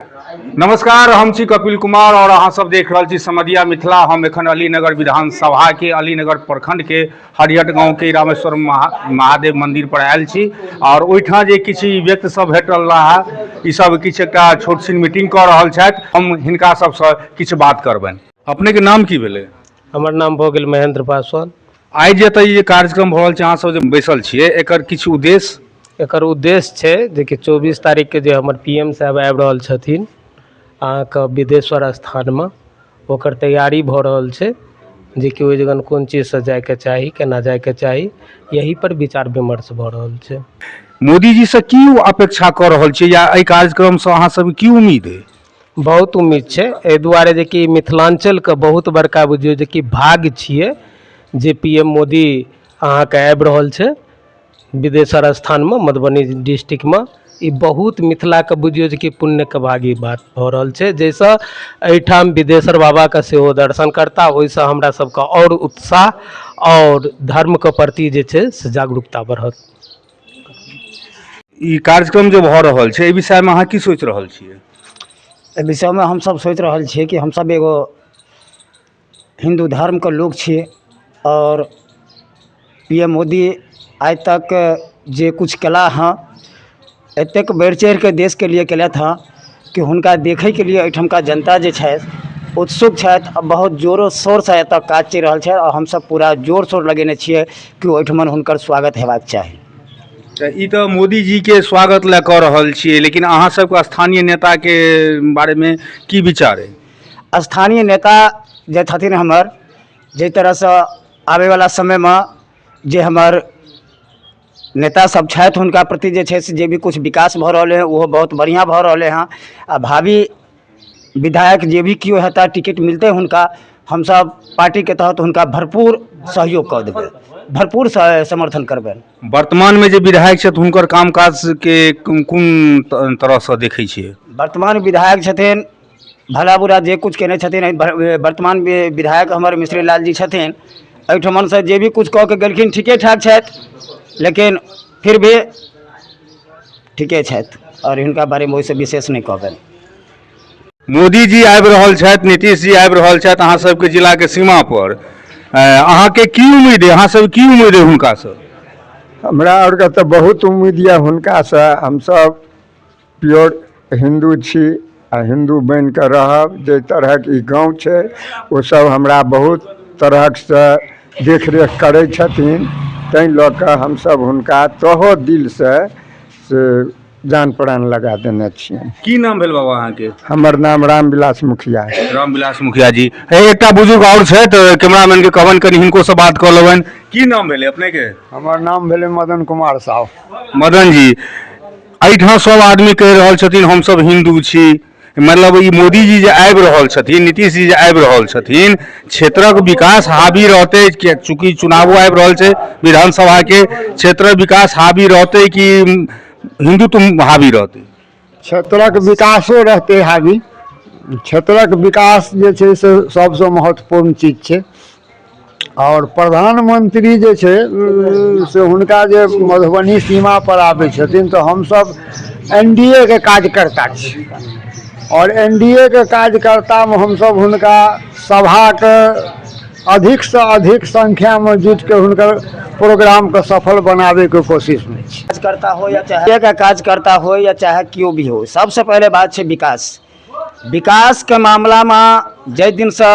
नमस्कार हम छी कपिल कुमार और अहाँ सब देख रहल छी समदिया मिथिला हम एखन अलीनगर विधानसभा के अलीनगर प्रखंड के हरियट गांव के रामेश्वर महा, महादेव मंदिर पर आयल छी और ओहिठाम जे किछु व्यक्ति सब भेट रहा ई सब किछु एकटा छोट छिन मीटिंग कऽ रहल छथि हम हिनका सबसँ किछु बात करबनि अपने के नाम की भेलै हमर नाम भऽ गेल महेंद्र पासवान आइ जे एतऽ ई जे कार्यक्रम भऽ रहल छै अहाँ सब जे बैसल छियै एकर किछु उद्देश्य एकर उद्देश्य छै जेकि चौबीस तारीखके जे हमर पी एम साहेब आबि रहल छथिन अहाँके बिदेश्वर स्थानमे ओकर तैयारी भऽ रहल छै जेकि ओहि जगह कोन चीज सऽ जाइके चाही केना जाइके चाही एहि पर विचार विमर्श भऽ रहल छै मोदीजीसँ की अपेक्षा कऽ रहल छियै या एहि कार्यक्रमसँ अहाँ सबके की उम्मीद अइ बहुत उम्मीद छै एहि दुआरे जे कि मिथिलाञ्चलके बहुत बड़का बुझियौ जे कि भाग्य छियै जे पी एम मोदी अहाँके आबि रहल छै बिदेश्वर स्थानमे मधुबनी डिस्ट्रिक्टमे ई बहुत मिथिलाके बुझियौ जे कि पुण्यके भागी बात भऽ रहल छै जाहिसँ एहिठाम बिदेश्वर बाबाके सेहो दर्शन करता ओहिसँ हमरा सभके आओर उत्साह आओर धर्मके प्रति जे छै से जागरूकता बढ़त ई कार्यक्रम जे भऽ रहल छै एहि विषयमे अहाँ की सोचि रहल छियै एहि विषयमे हमसभ सोचि रहल छियै कि हमसभ एगो हिन्दू धर्मके लोक छियै आओर पी एम मोदी आइ तक जे किछु कयला हँ एतेक बढ़ि चढ़ि कऽ देशके लिए कयलथि हँ कि हुनका देखैके लिए एहिठामके जनता जे छथि उत्सुक छथि आओर बहुत जोरो शोरसँ एतऽ काज चलि रहल छै आओर हमसब पूरा जोर शोर लगेने छिए कि ओहिठाम हुनकर स्वागत हेबाके चाही तऽ ई तऽ मोदीजीके स्वागत लऽ कऽ रहल छिए लेकिन अहाँसबके स्थानीय नेताके बारेमे कि विचार अइ स्थानीय नेता जे छथिन हमर जाहि तरहसँ आबैवला समयमे जे हमर नेता सब छथि हुनका प्रति जे छै से जे भी किछु विकास भऽ रहलै हँ ओहो बहुत बढ़िआँ भऽ रहलै हँ आ भावी विधायक जे भी केओ हेता टिकट मिलतै हुनका हमसब पार्टीके तहत हुनका भरपूर सहयोग कऽ देबै भरपूर स- समर्थन करबनि वर्तमानमे जे विधायक छथि हुनकर कामकाजके कोन त- तरहसँ देखै छियै वर्तमान विधायक छथिन भला बुरा जे किछु केने छथिन एहि वर- ए, वर्तमान वि- विधायक हमर मिश्री लाल जी छथिन एहिठमनसँ जे भी किछु कऽ के गेलखिन ठीके ठाक छथि लेकिन फिर भी ठीके छथि आओर हिनका बारेमे ओहिसँ विशेष नहि कहबनि मोदी जी आबि रहल छथि नीतीश जी आबि रहल छथि अहाँ सबके जिला के सीमा पर अ, अहाँके की उम्मीद है अहाँ सब की उम्मीद है हुनका से हमरा आरके तऽ बहुत उम्मीद यए हुनकासँ हमसभ प्योर हिन्दू छी आ हिन्दू बनि कऽ रहब जाहि तरहक ई गाँव छै ओसभ हमरा बहुत तरहसँ देखरेख करै छथिन ताहि लऽ कऽ हमसभ हुनका तहे दिलसँ से जान प्राण लगा देने छियनि की नाम भेल बाबा अहाँके हमर नाम रामविलास मुखिया है रामविलास मुखिया जी हे एकटा बुजुर्ग आओर छथि कैमरामैन के कहबनि कनि हिनको से बात कऽ लेबनि की नाम भेलै अपने के हमर नाम भेलै मदन कुमार साहु मदन जी एहिठाम सभ आदमी कहि रहल छथिन हमसभ हिन्दू छी मतलब ई मोदीजी जे आबि रहल छथिन नीतीश जी जे आबि रहल छथिन क्षेत्रक विकास हावी रहतै कि- चूँकि चुनावो आबि रहल छै विधानसभाके क्षेत्रक विकास हावी रहतै कि हिन्दुत्व हावी रहतै क्षेत्रक विकासो रहतै हावी क्षेत्रक विकास जे छै से सभसँ महत्वपूर्ण चीज छै आओर प्रधानमन्त्री जे छै से हुनका जे मधुबनी सीमा पर आबै छथिन तऽ हमसभ एन डी ए के कार्यकर्ता छी आओर एन डी ए के कार्यकर्तामे हमसभ हुनका सभाके अधिकसँ अधिक संख्यामे जुटि कऽ हुनकर प्रोग्रामके सफल बनाबैके कोशिशमे छी कार्यकर्ता हो या चाहे कार्यकर्ता हो या चाहे केओ भी हो सबसँ पहिले बात छै विकास विकासके मामिलामे जाहि दिनसँ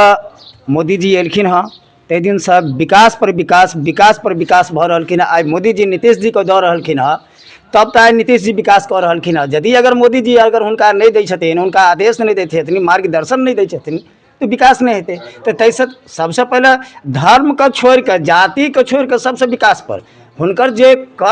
मोदीजी अयलखिन हँ ताहि दिनसँ विकास पर विकास विकास पर विकास भऽ रहलखिन हँ आइ मोदीजी नीतीश जीके दऽ रहलखिन हँ तब तऽ आइ नीतीश जी विकास कऽ रहलखिन हँ यदि अगर मोदीजी अगर हुनका नहि दै छथिन हुनका आदेश नहि दै छथिन मार्गदर्शन नहि दै छथिन तऽ विकास नहि हेतै तऽ ताहिसँ सभसँ पहिले धर्मके छोड़िके जातिके छोड़िके सभसँ विकास पर हुनकर जे कर